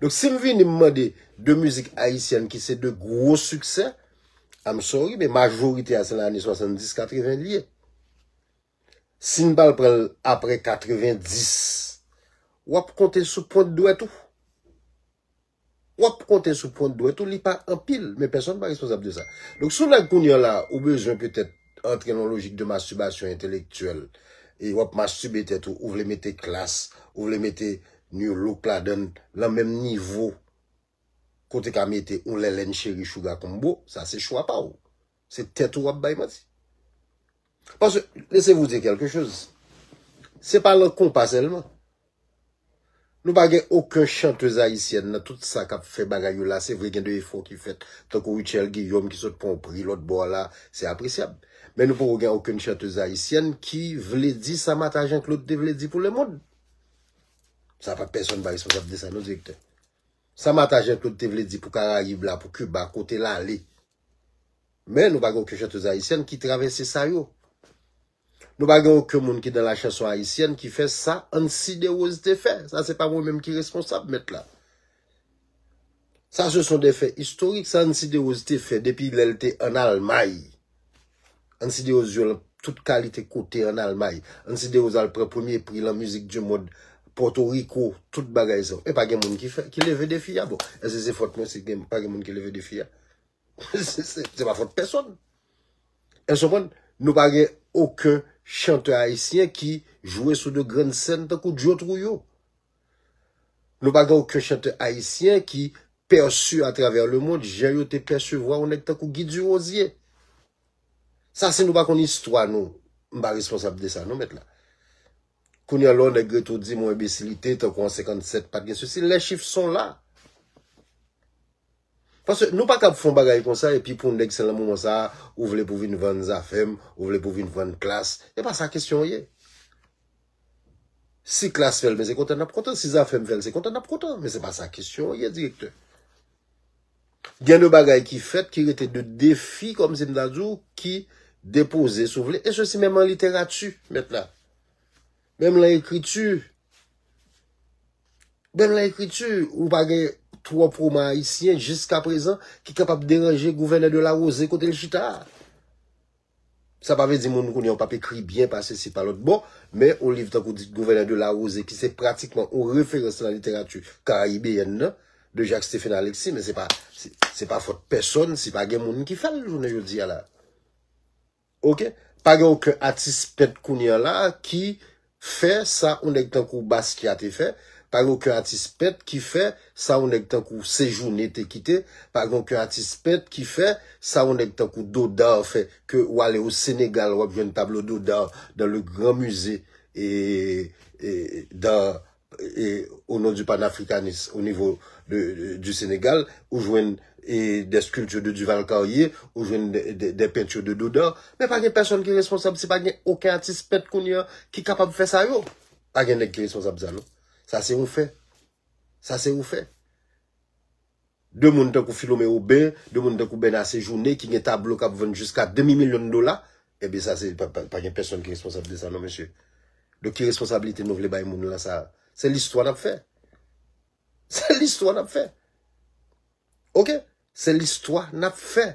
Donk si m vini m mande 2 mizik ayisyèn ki se 2 gwo siksè, I'm sorry men majorite a se nan ane 70, 80 li ye. Si n pa al pran l aprè 90, w ap konte sou pwent dwèt ou. W ap konte sou pwent dwèt ou, li pa anpil men pèsonn pa responsab de sa. Donk si w nèg kounye a la ou bezwen petèt antre nan yon lojik de masturbasyon entelektyèl e wap mastube tèt ou, ou vle mete klas, ou vle mete new look ladann lan menm nivo ke w te ka mete yon lèlèn cheri chouga konbo, sa se chwa pa w. Se tèt ou wap bay manti. Paske, lese vou di kèlke choz, se pa lan konpa sèlman. Nou pa gen oken chantez ayisyèn nan tout sa kap fè bagay yo la se vre gen de efò ki fèt tankou Rutshelle Guillaume ki sot pran yon pri lòt bò la se apresyab men nou poko gen oken chantez ayisyèn ki vle di sa Mata Jean Claude te vle di pou lemond sa pa pèsòn pa responsab de sa non direktè sa Mata Jean Claude te vle di pou karayib la pou Cuba kote lale men nou pa gen oken chantez ayisyèn ki travèse sa yo. Nou pa gen oken moun ki nan la chanson ayisyèn ki fè sa Ancy Derose te fè. Sa se pa mwen menm ki responsab mèt la. Sa se son de fè istorik. Sa Ancy Derose te fè depi lè l te an Almay. Ancy Derose jwe lan tout kalite kote an Almay. Ancy Derose al pran premye pri lan mizik di mond Pòtoriko, tout bagay sa yo. E pa gen moun ki fè, ki leve defi a. Bon, èske se fòt mwen si pa gen moun ki leve defi a? Se pa fòt pèsòn. Èske w konprann? Nou pa gen oken chantè ayisyen ki jwe sou de grann sèn tankou Djo Trouyo. Nou pa gen oken chantè ayisyen ki pèsi atravè lemond jan yo te pèsevwa yon nèg tankou Guy Durosier. Sa si nou pa konn istwa nou, m pa responsab de sa non mèt la. Kounye an lè yon nèg rete w di m yon enbesilite tankou an 57 pa t gen sesi, les chiffres sont là. Paske nou pa kab fon bagay konsa epi pou nèg se lan moman sa a ou vle pou vin vann zafèm, ou vle pou vin vann klas. E pa sa kesyon an ye. Si klas fèl men se kontan nap kontan, si zafèm fèl se kontan nap kontan. Men se pa sa kesyon an ye direktè. Gen de bagay ki fèt ki rete de defi kòm si m ta di w ki depoze si w vle e sosi menm an literati mèt la. Menm lan ekriti, menm lan ekriti, ou pa gen twò pwoma ayisyen jiska prezan ki kapab deranje gouvènè de la Rose kote l chita a. Sa pa vle di moun kounye yo pap ekri byen pase si pa lòt bò, men on liv tankou di gouvènè de la Rose ki se pratikman on referans lan literati karayibeyèn nan de Jacques Stephen Alexis men se pa se pa fòt pèsòn si pa gen moun ki fè l jounen jodi a la. Ok pa gen oken atis pent kounye an la ki fè sa yon nèg tankou Basquiat te fè, pa gen oken atis pent ki fè sa yon nèg tankou Sejourné te kite, pa gen oken atis pent ki fè sa yon nèg tankou Dodard fè ke w ale o Senegal w ap jwenn tablo Dodard dan le gran musée d'art o non di panafrikanis o nivo de di Senegal, ou jwenn dè skilti de Duval Carrié, ou jwenn dè penti de Dodard, men pa gen pèsòn ki responsab si pa gen oken atis pent kounye an ki kapab fè sa yo. Pa gen nèg ki responsab sa non. Sa se yon fè. Sa se yon fè. De moun tankou Philomé Aubin, de moun tankou Bernard Séjourné ki gen tablo kap vann jiska demi milyon dola, ebyen sa se pa gen pèsòn ki responsab de sa non mesye. Donk ki responsablite nou vle bay moun lan sa? Se listwa nap fè. Se listwa nap fè. Ok? Se listwa nap fè.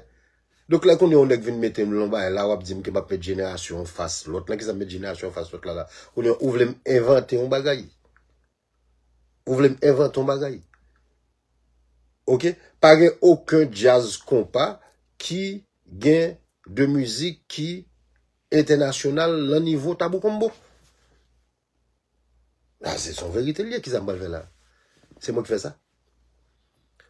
Donk lè kounye yon nèg vin mete m lon bagay la wap di m ke map met jenerasyon an fas lòt la. Kisa m met jenerasyon an fas lòt la la? Kounye ou vle m envante yon bagay? Ou vle m envante yon bagay? Ok, pa gen oken djaz konpa ki gen de mizik ki entènasyonal lan nivo tabou konbo. A, se son verite liye, ki sa m pral fè la? Se mwen ki fè sa?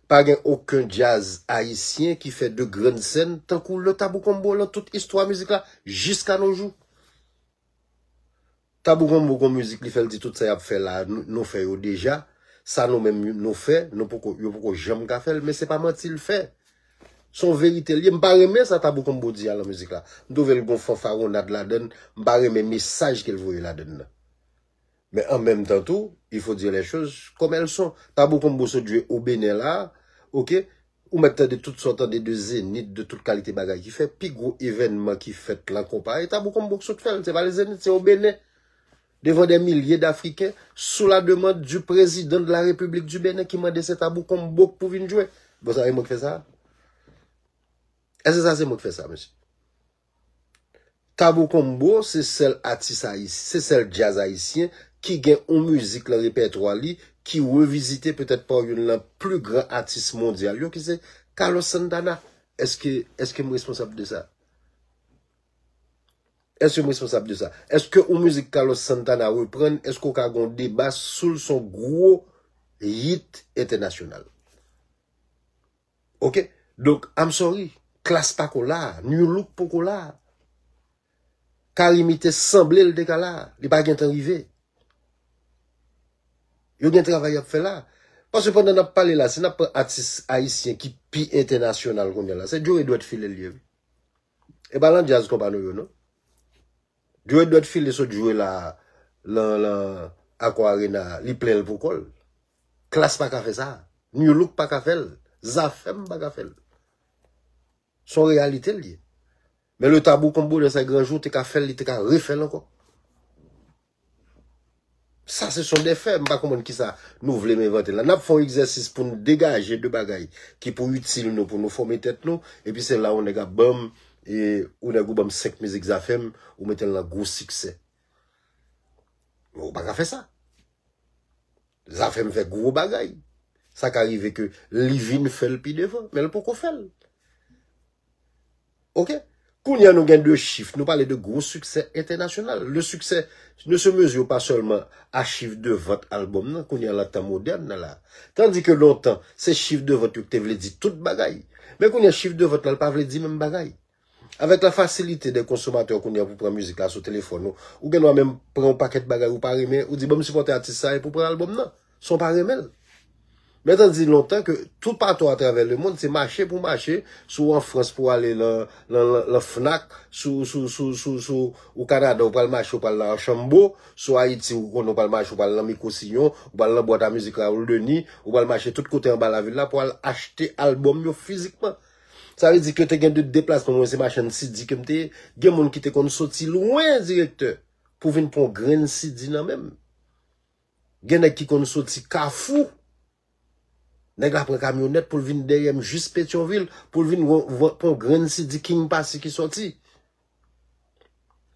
Pa gen oken djaz ayisyen ki fè de grenn sèn tankou le tabou konbo lan tout istwa mizik la jiska nojou. Tabou konbo gon mizik li fèl di tout sa yap fè la nou fè yo deja sa nou menm nou fè nou poko yo poko janm ka fèl men se pa manti l fè son veritel ye m pa renmen sa tabou konbo di a lan mizik la m twouvel gon fanfaronnad ladann m pa renmen mesaj kel voye ladann nan. Men an menm tan tou, il faut dire les choses comme elles sont. Tabou kon bou sot jwe o Bénin la a, ok, ou mèt tande tout sa w tande de Zénith, de tout kalite bagay ki fèt, pi gwo evènman ki fèt lan konpa e Tabou kon bou k sot fè l, se pa le Zénith, se o Bénin, devan des milliers d'Africains, sous la demande du Président de la République du Bénin ki mande se Tabou kon bou k pou vin jwe. Bon sa e mwen k fè sa a? Èske sa se mwen k fè sa a, mesye? Tabou Combo se sèl atis ayisyen, se sèl djaz ayisyen ki gen yon mizik lan repètwa li ki revizite petèt pa youn lan pli gran atis mondyal yo ki se Carlos Santana. Eske, eske m responsab de sa? Eske m responsab de sa? Eske yon mizik Carlos Santana reprann, eske w ka gen yon deba sou l se yon gwo hit entènasyonal? Ok donk I'm sorry Klass pako la, Nu look poko la, Carimi te sanble l te ka la, li pa gentan rive. Yo gen travay y ap fè la. Paske pandan n ap pale la, si n ap pran atis ayisyen ki pi entènasyonal kounye la, se Joe Edouard Phil l ye wi. E pa lan djaz konpa nou yo non. Jwe dwèt file sot jwe la lan lan Accor Arena a, li plen l pou kò l. Klass pa ka fè sa. Nu Look pa ka fè l. Zafèm pa ka fè l. S on reyalite l ye. Men le Tabou Combo dans ses grands jours te ka fè l, li te ka refè l ankò. Sa se son defè, m pa konprann kisa nou vle m envante la. N ap fè yon egzèsis pou n degaje de bagay ki pou itil nou, pou nou fòme tèt nou, epi se la yon nèg ap ban m, e yon nèg ou ban m 5 mizik Zafèm, ou mete l nan gwo siksè. Men ou pa ka fè sa. Zafèm fè gwo bagay. Sa ka rive ke li vin fè l pi devan, men l poko fè l. Ok? Kounye an nou gen 2 chif, nou pale de gwo siksè entènasyonal. Le siksè ne se mezure pa sèlman a chif de vant albòm nan, kounye an lan tan modèn nan la. Tandi ke lontan, se chif de vant yo ki te vle di tout bagay. Men kounye an chif de vant lan l pa vle di menm bagay. Avèk la fasilite de konsomatè kounye an pou pran mizik la sou telefòn ou, ou gen dwa menm pran yon pakèt bagay ou pa renmen, ou di banm sipòte atis sa epi ou pran albòm nan. san w pa renmen l. Mèt an di lontan ke toupatou atravè lemonn, se mache pou mache, si w an Frans pou w ale lan Fnac, si w o Kanada ou pral mache ou pral lan Archambo, si w Ayiti ou konnen ou pral mache ou pral lan Micro-Sillon, ou pral lan bwat a mizik Raoul Denis, ou pral mache tout kote anba lavil la pou al achte albòm yo fizikman. Sa vle di ke te gen de deplasman, mwen se machann CD ke m te ye, gen moun ki te konn soti lwen direktè pou vin pran yon grenn CD nan men m. Gen nèg ki konn soti kafou, nèg la pran kamyonèt pou l vin dèyè m jis Petyonvil pou l vin pran yon grenn CD King Passy ki soti.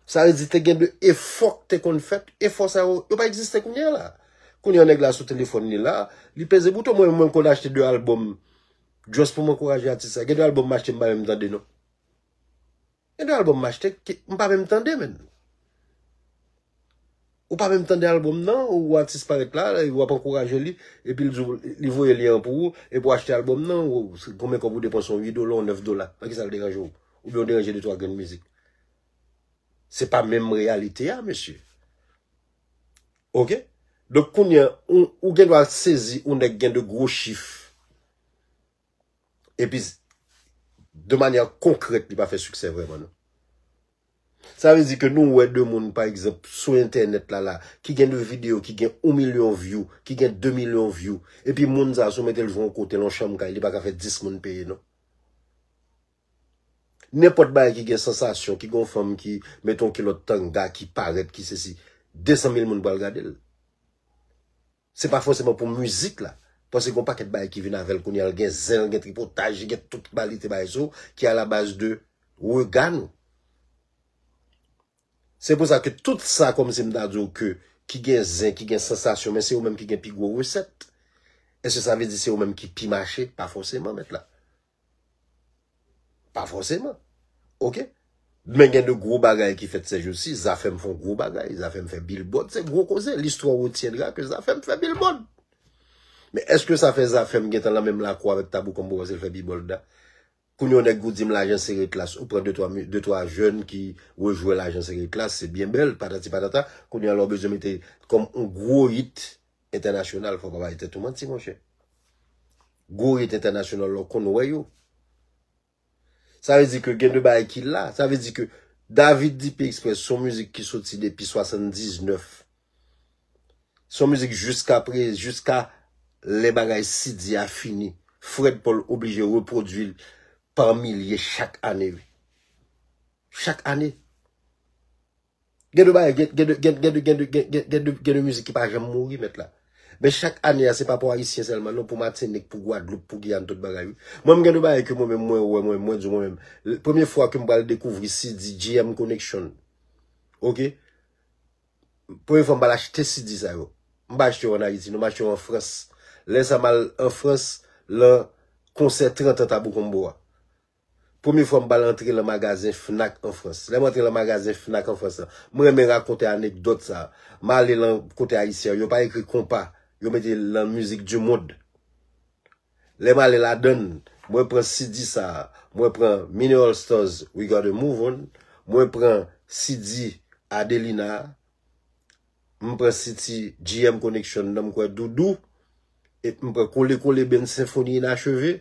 Sa vle di te gen de efò k te konn fèt, efò sa yo, yo pa egziste kounye a la. Kounye a nèg la sou telefòn li la, li peze bouton, mwen menm mwen konn achte 2 albòm just pou m ankouraje atis la. Gen de albòm m achte m pa menm tande non. Gen de album m achte ke m pa menm tande menn. Ou pa menm tande album nan, ou atis parèt la, ou ap ankouraje li, epi l di w li voye lyen an pou ou, epi w achte album nan, konbyen kòb ou depanse, yon 8 dola, yon 9 dola, nan kisa l deranje w? Oubyen ou deranje de twa grenn mizik? Se pa menm reyalite a mesye. Ok? Donk kounye an, ou gen dwa sezi yon nèg gen de gwo chif. Epi de manyè konkrèt li pa fè siksè vrèman non. Sa vle di ke nou wè de moun pa egzanp sou entènèt la la ki gen de videyo ki gen 1 milyon vyou, ki gen 2 milyon vyou, epi moun sa sou mete l jwe yon kote lan yon chanm kay li pa ka fè 10 moun peye non. Nenpòt bagay ki gen sansasyon, ki gen yon fanm ki mete yon kilòt tanga, ki parèt, ki sesi, 200 mil moun pral gade l. Se pa fòseman pou mizik la, paske gen yon pakèt bagay ki vin avè l kounye a, l gen zen, l gen tripotaj, li gen tout kalite bagay sou ki alabaz de rega nou. Se pou sa ke tout sa kòm si m ta di w ke ki gen zen, ki gen sansasyon men se yo menm ki gen pi gwo resèt. Eske sa vle di se yo menm ki pi mache? Pa fòseman mèt la. Pa fòseman. Ok. Men gen de gwo bagay ki fèt sèjousi. Zafèm fon gwo bagay. Zafèm fè bilbòd. Se gwo koze. Listwa retiendra ke zafèm fè bilbòd. Men eske sa fè zafèm gen tan la menm la kwa vek tabou konbo wazil fè bilbòd la? Kounye yon nèk gou dim lajan sere klas. Ou pran de twa jèn ki rejwe lajan sere klas. Se byen bèl. Patati patata. Kounye yon lò bezwen mete kom yon gwo yit. Entènasyonal fò pa bay tèt ou manti monchè. Gwo rit entènasyonal la w konn wè yo. Sa vle di ke gen de bagay ki la. Sa vle di ke David DP Express son mizik ki soti depi 79. Son mizik jiska pre, jiska lè bagay CD a fini. Fred Paul oblije repwodui l pa milye chak ane. Chak ane. Gen de bagay, gen, gen de, gen, gen de, gen de, gen, gen, gen de, gen de mizik ki pa janm mouri mèt la. Men chak ane a se pa pou Ayisyen sèlman non, pou Matinik, pou Gwadloup, pou Giyàn, tout bagay wi. Mwen menm gen de bagay ke mwen menm mwen wè mwen, mwen di mwen menm, l, premye fwa ke m pral dekouvri CD GM Connection, ok, premye fwa m pral achte CD sa yo, m pa achte yo an Ayiti non, m achte yo an Frans. Lè sa m al an Frans lan konsè 30 an Tabou Combo a. Premye fwa m pral antre lan magazen Fnac an Frans. Lè m antre lan magazen Fnac an Frans lan, m renmen rakonte anekdòt sa a. M ale lan kote Ayisyen yo pa ekri konpa, yo mete lan mizik du mond. Lè m ale ladann, mwen pran CD sa a, mwen pran Mini All Stars We Gotta Move On, mwen pran CD Adelina a, m pran CD GM Connection nan m kwè Doudou, et m pran Kole Kole Band Senfoni Inacheve.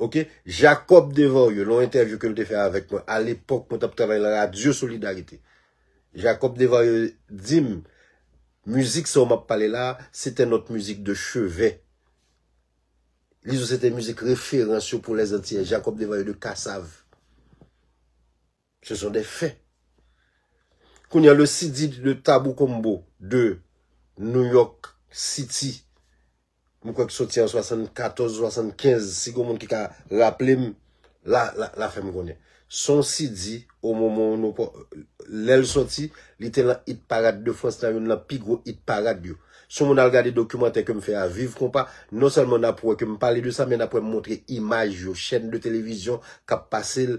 Ok, Jacob Desvarieux, nan yon entèvyou ke l te fè avèk mwen a lepòk mwen t ap travay nan radyo Solidarite. Jacob Desvarieux di m, mizik sa w m ap pale la a, sete nòt mizik de cheve. Li di w sete mizik referans yo pou Lèzantiyè, Jacob Desvarieux de Kassav. Ce sont des faits. Kounya le CD de Tabou Combo de New York City, m kwè ki soti an 74, 75, si gen moun ki ka raple m, la, la fè m konnen. Se yon CD, o moman ou nou, lè l soti, li te lan Hit Parade de France lan, youn lan pi gwo Hit Parade yo. Si yon moun al gade dokimantè ke m fè a, Viv Konpa, non sèlman n ap wè ke m pale de sa, men n ap wè m montre imaj yo, chèn de televizyon k ap pase l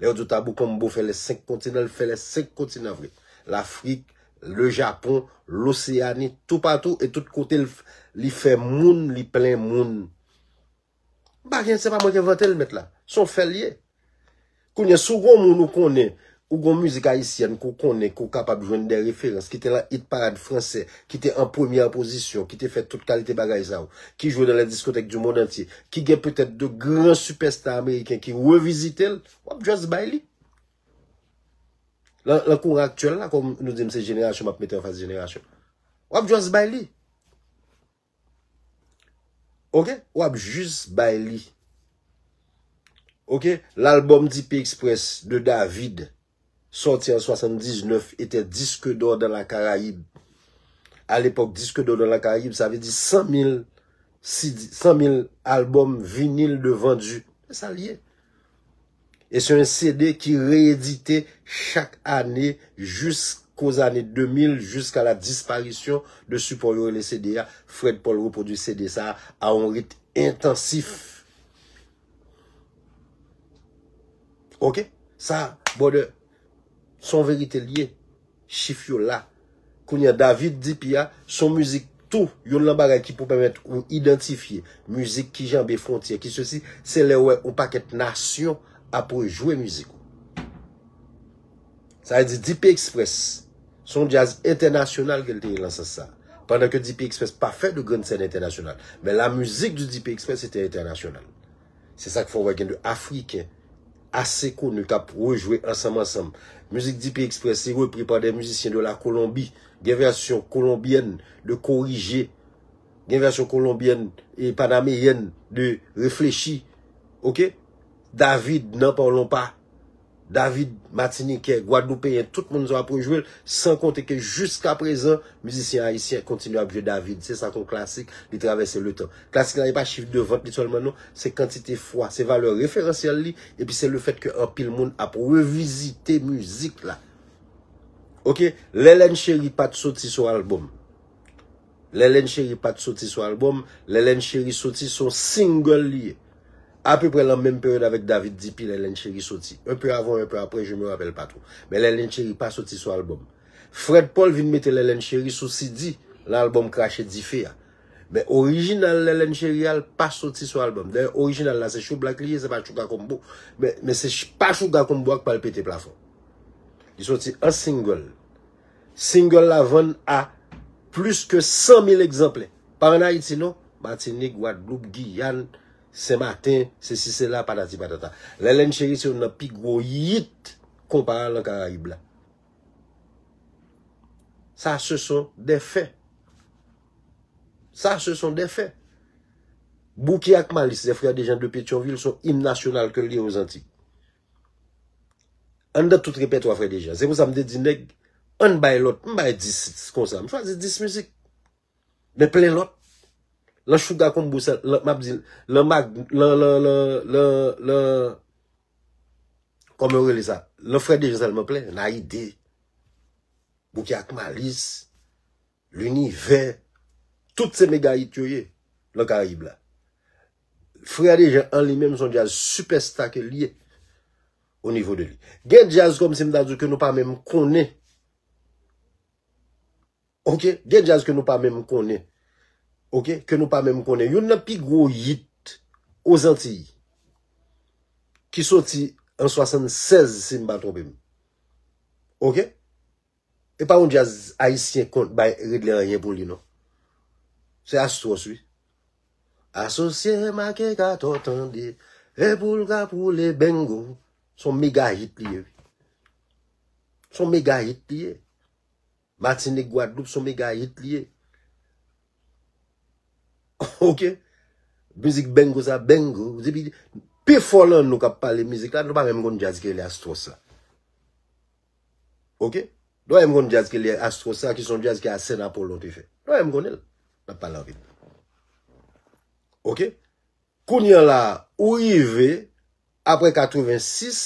Lè yo di w Tabou Combo fè lè 5 kontinan, l fè lè 5 kontinan vre. Lafrik, Le Japon, Loseyani, toupatou e tout kote l li fè moun, li plen moun. M pa gen, se pa mwen ki envante l mèt la. Se yon fè l ye. Kounye, si w gen yon moun ou konnen, ou gen yon mizik ayisyèn ke w konnen, ke w kapab jwenn de referans ki te lan it parad franse, ki te an premyè pozisyon, ki te fè tout kalite bagay sa yo, ki jwe nan lè diskotèk di mond antye, ki gen petèt 2 gran sipèsta ameriken ki revizite l, w ap just bay li. Lan lan kouran aktyèl la, kòm nou di m se jenerasyon, m ap mete anfas jenerasyon. W ap just bay li. Ok wap jus bay li. Ok l'album di P Express de David sorti en 79 était disque d'or dans la Caraïbe. A l'epoque disque d'or dans la Caraïbe sa vle di 100 mil CD 100 mil album vinil de vendu. Se sa li ye. E se yon CD ki reyedite chak ane jiskòzane 2000 jiska la disparisyon de sipò yo rele CD a. Fred Paul repwodui CD sa a a yon rit entansif. Ok? Sa, brother. Son verite liye chif yo la. Kounya David di pi a son mizik tou yonn lan bagay ki pou pèmèt ou idantifye mizik ki janbe fwontyè ki sesi se lèw wè on pakèt nasyon ap rejwe mizik ou. Sa vle di DP Express son djaz entènasyonal ke l te ye lan sans sa. Pandan ke DP Express pa fè de grann sèn entènasyonal men la mizik di DP Express se te entènasyonal. Se sak fè w wè gen 2 afriken ase koni k ap rejwe ansanm ansanm. Mizik Dpi Express se repri pa 2 mizisyen de la Kolonbi. Gen vèsyon kolonbyèn de Korije. Gen vèsyon kolonbyèn e panameyèn de Reflechi. Ok. David nan Pawlonpa. David matinikè, gwadloupeyen tout moun sa ap rejwe l, san konte ke jiska prezan mizisyen ayisyen kontinye ap jwe David, se sa kon klasik li travèse letan. Klasik la e pa chif de vant li sèlman non, se kantite fwa, se valè referansyèl li epi se le fèt ke anpil moun ap revizite mizik la. Ok, Lè Lèn Cheri pat soti sou albòm. Lèlèn cheri pat soti sou album, Lèlèn cheri soti son single li ye. A peu prè lan menm period avèk David DP Lèlèn cheri soti. Un peu avan un peu aprè je me rappelle pas trop. Men Lèlèn cheri pa soti sou album. Fred Paul vin mete Lèlèn cheri sou CD lan album Krache dife a. Men original Lèlèn cheri a l pa soti sou album. Dayè original la se Shoublack li ye se pa Chouga Combo. Men se pa Chouga Combo a k pral pete plafon. Li soti an single. Single la vann a plis ke 100 mil egzanplè. Pa an Ayiti non, Matinik, Gwadloup, Giyàn, Sen Maten, sesi sela, patati patata. Lèlèn cheri se youn nan pi gwo yit konpa a lan Karayib la. Sa se son dè fè. Sa se son dè fè. Bouki ak Malis, zè frè de jan de Petyonvil, son im nasyonal ke li yo zanti. Anndan tout repètwa Frè Dejean. Se pou sa m te di nèg, ann bay lòt. M bay 10 titre kon sa. M chwazi 10 mizik. Men plen lòt. Lan Shuga Combo sa, lan, m ap di, lan Mag, lan, lan, lan, lan, lan, kòman yo rele sa? Lan Frè Dejean sèlman plen. Nayide. Bouki ak Malice. Linivè tout se mega hit yo ye lan karayib la. Frè Dejan an li menm son djaz sipèsta ke li ye o nivo de li. Gen djaz kòm si m ta di w ke nou pa menm konnen. Ok, gen djaz ke nou pa menm konnen. Ok, ke nou pa menm konnen. Youn nan pi gwo hit o zantiy ki soti an 76 si m pa twonpe m. Ok. E pa yon jazz ayisyen konn bay regle anyen pou li non. Se Astros wi. Asosye make kato tande e pou l ka poule bengo. Son mega hit li ye wi. Son mega hit li ye. Matinik Gwadloup son mega hit li ye. Ok. Mizik bengo sa bengo. Depi pi fò lan nou kap pale mizik la nou pa menm konn jazz ki rele Astros la. Ok Doyen m konn djaz ki rele Astro Star ki son djaz ke Arsène Apollon te fè. Doyen m konnen l. N ap pale anpil. Ok Kounye an la a ou rive apre 86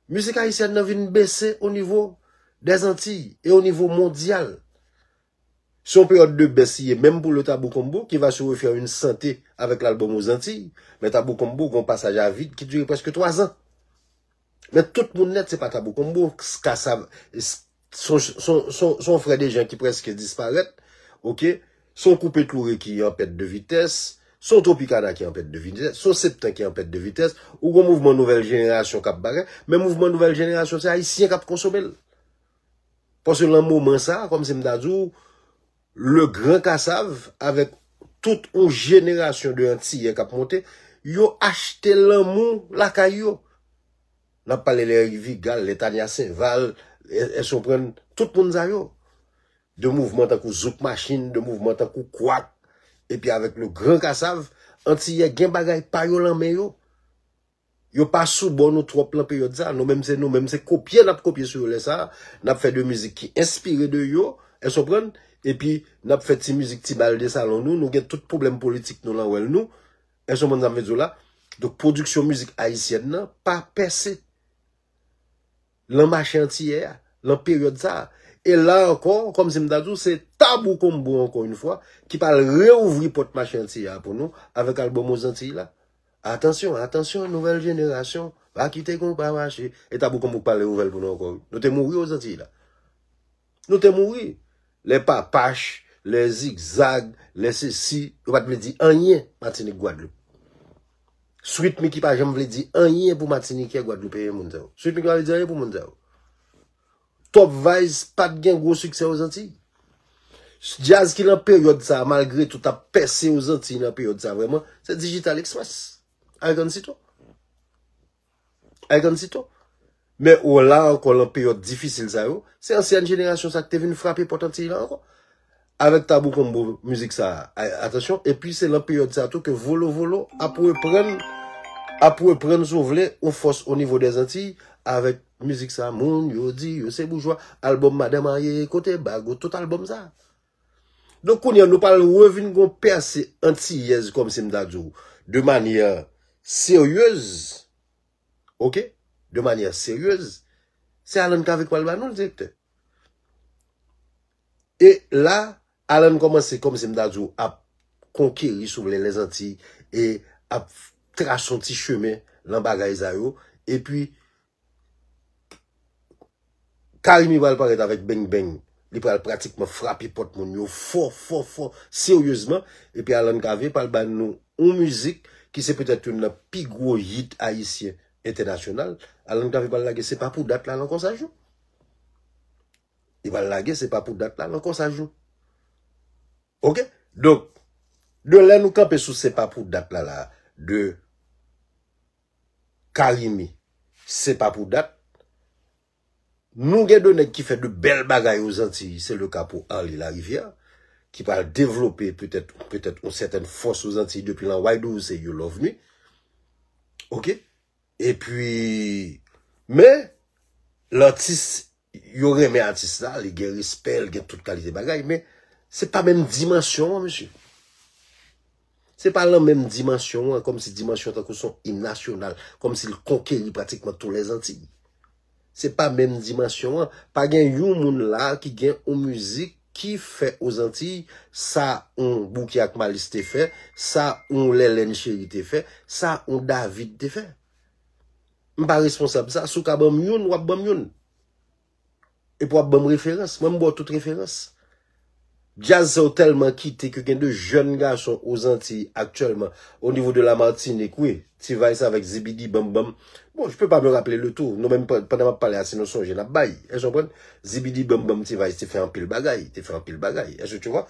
mizik ayisyèn nan vin bese o nivo dèzantiy e o nivo mondyal. Se yon peryòd de bès li ye menm pou le Tabou Combo ki va se refèr yn sante avèk lalbòm Aux Antilles men Tabou Combo gen yon pasaj a vid ki dire prèske 3 zan. Men tout moun nèt se pa Tabou Combo, ska sa son frè de jan ki prèske disparèt, ok, son Koupe Tloure ki an pèt de vitès, son Tropikana ki an pèt de vitès, son Septen ki an pèt de vitès, ou gon mouvman nouvèl jenerasyon k ap bagay, men mouvman nouvèl jenerasyon se ayisyen k ap konsome l. Paske lan moman sa, kòm si m ta di w, Le Grand Kassav avèk tout yon jenerasyon de antiyè k ap monte, yo achte lanmou lakay yo. N ap pale lè Vigal, lè Tania Sainval, èske w konprann, tout moun sa yo. De mouvman tankou Zouk Machin, de mouvman tankou Kwak, epi avèk Le Grand Kassav, antiyè gen bagay pa yo lan men yo. Yo pa sou bò nou twòp lan peryòd sa, nou menm se nou menm se kopye nap kopye sou yo lè sa, nap fè de mizik ki enspire de yo, èske w konprann, epi nap fè ti mizik ti bal de salon nou, nou gen tout pwoblèm politik nou lan wèl nou, èske w konprann sa m vle di w la, donk pwodiksyon mizik ayisyèn nan pa pèse lan mache antiyè a, lan peryòd sa, e la ankò kòm si m ta di w se Tabou Combo ankò yn fwa ki pral reouvri pòt mache antiyè a pou nou avèk albòm Aux Antilles la. Atansyon, atansyon nouvèl jenerasyon, pa kite konpa mache. E Tabou konpa ou pale nouvèl pou nou ankò wi. Nou te mouri o Zantiy la. Nou te mouri. Lè Papach, lè Zigzag, lè sesi, yo pat vle di anyen Matinik Gwadloup. Sweet Micky pa janm vle di anyen pou Matinikè Gwadloupeyen moun sa yo. Sweet Micky pa vle di anyen pou moun sa yo. Top Vice pat gen gwo siksè Ozantiy. Djaz ki nan peryòd sa a malgre tou tap pèse Ozantiy nan peryòd sa a vrèman, se Digital Express avèk Ansyto. Avèk Ansyto. Men o la ankò lan peryòd difisil sa yo, se ansyen jenerasyon sa ki te vin frape pòt Antiy lan ankò. Avèk Tabou Combo mizik sa a atansyon epi se lan peryòd sa tou ke Volo Volo ap reprann ap reprann si w vle yon fòs onivo dè Zantiy avèk mizik sa Moun yo di yo se boujwa albòm Madan Marye kote bag ou tout albòm sa Donk kounye a nou pral revin gen yon pèse antiyèz kòmsi m ta di w de manyè seryez ok de manyè seryez se Alan Cavé k pral ba nou l direktè. E la, Alan kòmanse kòm si m ta di w ap konkeri si w vle Lèzantiy e ap trase yon ti chemen lan bagay sa yo. E pi, Carimi pral parèt avèk Beng Beng. Li pral pratikman frape pòt moun yo fò, fò, fò, seryezman. E pi Alan Cavé pral ba nou yon mizik ki se petèt youn nan pi gwo yit ayisyen entènasyonal. Alan Cavé pral lage Se pa pou dat la lan Konsaj non. Li pral lage se pa pou dat la nan kòsaj nou. Ok? Donk, de lè nou kanpe sou se pa pou dat la la, de Carimi se pa pou dat, nou gen de nèg ki fè de bèl bagay o Zantiy, se le ka pou Arly Larivière, ki pral devlope petèt, petèt, yon sètèn fòs o Zantiy depi lan Wide Ouse, you love me. Ok? E pi, men, lantis, yo renmen atis la, li gen respè, li gen tout kalite bagay, men, se pa menm dimansyon an, mesye. Se pa lan menm dimansyon an, kòm si dimansyon tankou son im nasyonal, kòm si l konkeri pratikman tou lèzanti. Se pa menm dimansyon an. Pa gen yon moun la ki gen yon mizik ki fè Ozantiy sa yon Bouki ak Malis te fè, sa yon Lèlèn Cheri te fè, sa yon David te fè. M pa responsab sa. Si w ka ban m youn, w ap ban m youn. Epi w ap ban m referans. Mwen m ba w tout referans. Djaz sa yo tèlman kite ke gen de jèn gason o Zantiy aktyèlman, o nivo de la Martinique wi, T-Vice avèk Zibidi Bam Bam, bon je peux pas me rappeler le tout, nou menm pandan map pale a se nou sonje nap bay, èske w konprann? Zibidi Bam Bam T-Vice te fè anpil bagay, te fè anpil bagay, èske tu vois?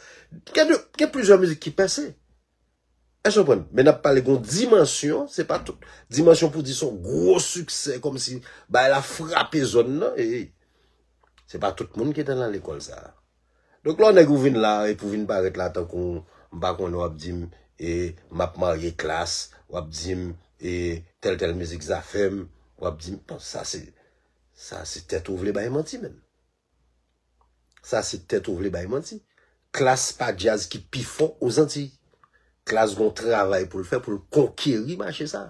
Gen de, gen plizyè mizik ki pèse. Èske nou konprann? Men nap pale gon dimansyon, se pa tout dimansyon pou di son gwo siksè kòm si bagay la frape zòn nan, ey. Se pa tout moun ki te nan lekòl sa a. Donk lò nèg ou vin la epi ou vin parèt la tankou m pa konnen wap di m e map marye klas, wap di m e tèl tèl mizik zafèm, wap di m bon sa se sa se tèt ou vle bay manti menm. Sa se tèt ou vle bay manti. Klass pa djaz ki pi fò aux Antilles. Klass gon travay pou l fè pou l konkeri mache sa.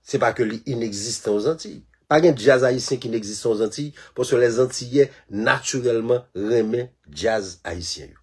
Se pa ke li inegzistan aux Antilles. Pa gen djaz ayisyen ki inegzistan aux Antilles paske les Antillais naturellement renmen djaz ayisyen yo.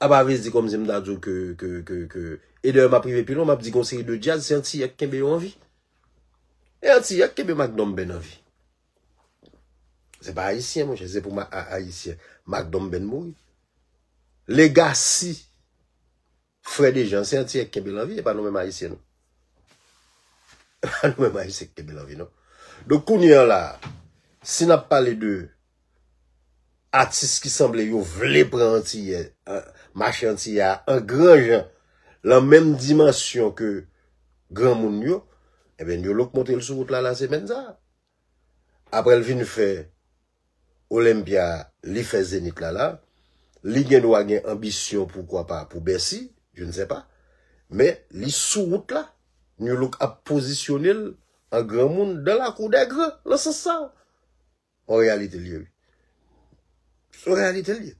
Apa vle di kòmsi m ta di w ke ke ke ke e dayè m ap rive pi lwen m ap di gen yon seri de djaz se antiyè k kenbe yo an vi. E antiyè k kenbe Mack Donben an vi. Se pa ayisyen mwen chè se pou ayisyen Mack Donben mouri. Legasi. Frè Dejan, se antiyè ki kenbe l anvi, e pa nou menm Ayisyen non. E pa nou menm Ayisyen ki kenbe l anvi non. Donk kounye an la a, si n ap pale de atis ki sanble yo vle pran antiyè, mache antiyè a an gran jan, lan menm dimansyon ke granmoun yo, enben New Look montre l sou wout la lasemèn sa a. aprè l vin fè Olympia li fè Zenith la la, li gen dwa gen anbisyon poukwa pa pou Bercy, je ne sais pas, men li sou wout la, Nu-Look ap pozisyone l an granmoun dan la kou dè gran lan sans sa. An reyalite l ye wi. An reyalite l ye.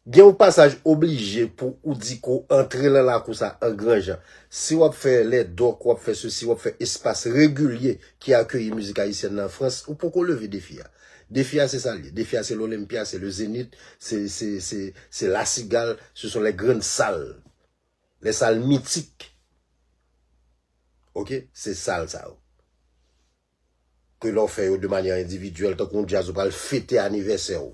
Gen yon pasaj oblije pou ou di ko antre lan lakou sa an gran jan. Si wap fè lè dòk, wap fè sesi, wap fè espas regilye ki akeyi mizik ayisyèn nan an Frans, ou poko leve defi a. Defi a se sa l ye. Defi a se L'Olympia, se Le Zenith, se, se, se, se La Cigale, se son les grandes salles. Les salles mythiques. Ok? Se sal sa yo. ke lè w fè yo de manyè endividyèl tankou yon djaz ou pral fete anivèsè w.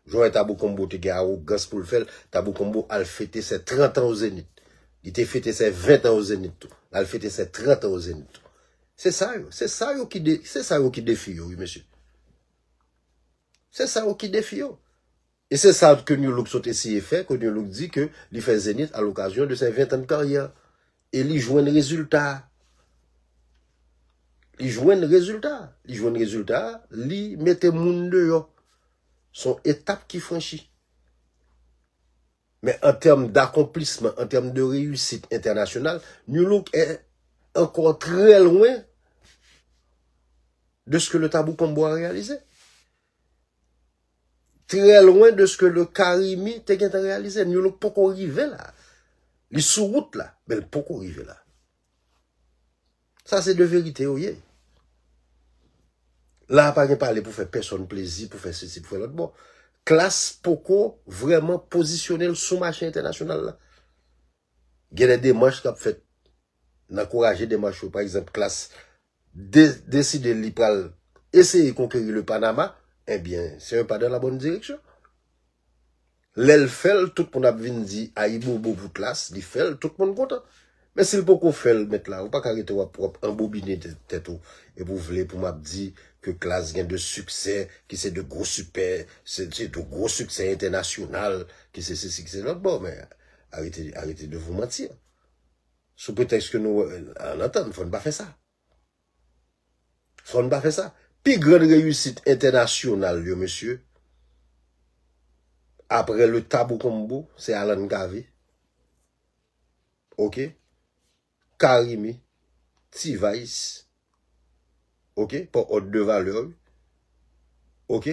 Jan w wè Tabou Combo te gen awogans pou l fè l, Tabou Combo al fete sè 30 an o Zenith. Li te fete sè 20 an o Zenith tou. L al fete sè 30 an o Zenith tou. Se sa yo, se sa yo ki de, se sa yo ki defi yo wi mesye. Se sa yo ki defi yo. E se sa ke Nu Look sot eseye fè, ke Nu Look di ke li fè Zenith a l'occasion de ses 20 ans de carrière. E li jwenn rezilta. Li jwenn rezilta. Li jwenn rezilta, li mete moun deyò. Son etap ki franchi. Men an tèm d'akonplisman, an tèm de reyisit entènasyonal, Nu Look è ankò trè lwen de ske le Tabou Combo a reyalize. Trè lwen de ske le Carimi te gentan reyalize. New Look poko rive la. Li sou wout la, men li poko rive la. Sa se de verite yo ye. La pa gen pale pou fè pèsòn plezi, pou fè sesi, pou fè lòt bon. Klass poko vreman pozisyonel sou mache entènasyonal la. Gen de demanch kap fèt. Nan kouraje demanch yo. Pa egzanp klass deside li pral eseye konkeri le Panama, ebyen se un pas dans la bonne direction. Lè l fè l, tout moun ap vin di ayibobo pou Tlass, li fè l, tout moun kontan. Men si l poko fè l, mèt la, ou pa ka rete w ap anbobine tèt ou epi w vle pou m ap di ke Tlass gen de siksè ki se de gwo sipè, se de gwo siksè entènasyonal, ki se sesi, ki se lòt. Bon, men, arete de vous mentir. Sou pretèks ke nou an antann, fò n pa fè sa. Fò n pa fè sa. Pi gran reyisit entènasyonal yo mesye, apre le tabou combo, se Alan Cavé, ok, Carimi, T-Vice, ok, pa òd de valè yo, ok,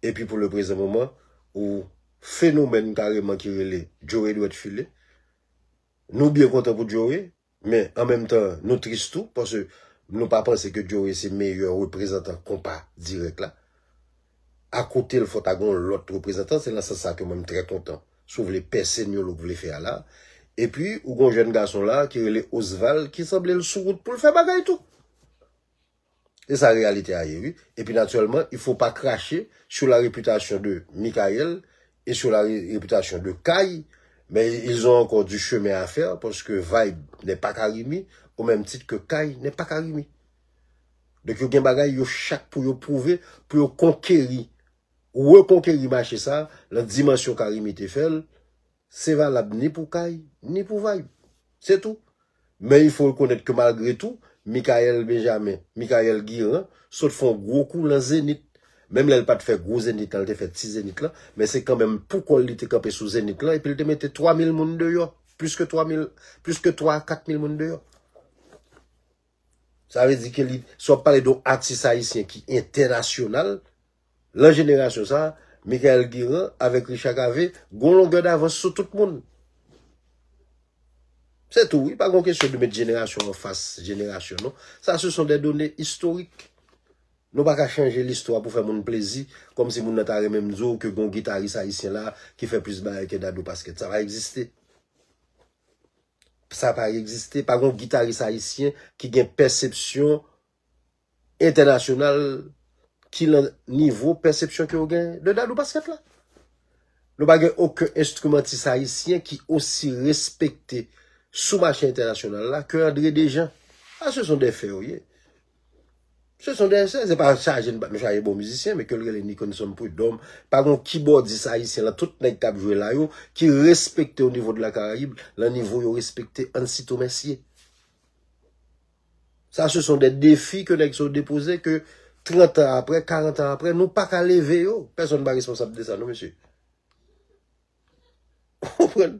epi pou le prezan moman, ou fenomèn kareman ki rele Joe Edouard Philé, Nou byen kontan pou Joe, men an menm tan nou tris tou paske nou pa panse ke Joe se meyè reprezantan konpa dirèk la. A kotel fò ta gen yon lòt reprezantan, se nan sans sa ke mwen m trè kontan si w vle pèse Nolo vle fè a la. Epi ou gen yon jèn gason la ki rele Osval ki sanble l sou wout pou l fè bagay tou. Se sa reyalite a ye wi. Epi natirèlman, il fo pa krache sou la repitasyon de Mickaël e sou la repitasyon de Kay, men ils ont ankò du chemen a fè paske Vayb nè pa Karimi o mèm tit ke Kay nè pa Karimi. Donk yo gen bagay yo chak pou yo pwouve, pou yo konkeri, rekonkeri mache sa lan dimansyon Karimi te fè l, Se valab ni pou Kay, ni pou Vibe. Se tou. Men il fo rekonèt ke malgre tou, Mickaël Benjamin, Mickaël Guirand, sot fè yon gwo kou lan Zenith. Menm lè l pa t fè gwo Zenith lan, l te fè ti Zenith lan, men se kanmenm pou kò l li te kanpe sou Zenith lan epi l te mete 3 mil moun deyò, plis ke 3 mil, plis ke 3 a 4 mil moun deyò. Sa vle di ke li, si wap pale don atis ayisyen ki entènasyonal, lan jenerasyon sa, Michael Guerin avèk Richard Cavé gon longè davans sou tout moun. Se tou wi, pa gon kesyon de met jenerasyon an fas jenerasyon non. Sa se son de done istorik. Nou pa ka chanje listwa pou fè moun plezi, kòm si moun nan ta renmenm di w ke gon gitaris ayisyen la ki fè plis bagay ke Dadou Pasquet. Sa pa egziste. sa pa egziste, pa gon gitaris ayisyen ki gen pèsepsyon entènasyonal ki lan nivo pèsepsyon ke ou gen de Dadou Pasquet la. Nou pa gen oken enstrimantis ayisyen ki osi respekte sou mache entènasyonal la ke André Dejean. Sa se son de fè yo ye. Se son de se, se pa chaje n pa m chaje bon mizisyen, men ke l rele Nikonson Prud'homme, pa gon kibòdis ayisyen lan tout nèg k ap jwe la yo ki respekte o nivo de la Karayib lan nivo yo respekte Ansito Mèsye. Sa se son de defi ke nèg sa yo depoze ke 30 an aprè, 40 an aprè, nou pa ka leve yo. Pèsonn pa responsab de sa non mesye. Ou konprann?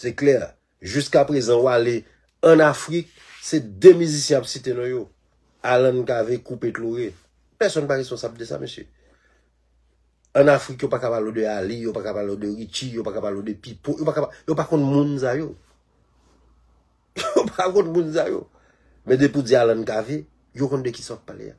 Se klè, jiska prezan ou ale an Afrik, se 2 mizisyen ap site non yo, Alan Cavé, Coupé Chloré. Pèsonn pa responsab de sa mesye. An Afrik yo pa ka pale w de Ali, yo pa ka pale w de Richie, yo pa ka pale w de Pipo, yo pa ka pale, yo pa konn moun sa yo. Yo pa konn moun sa yo. Men depi w di Alan Cavé, yo konn de kisa w ap pale a.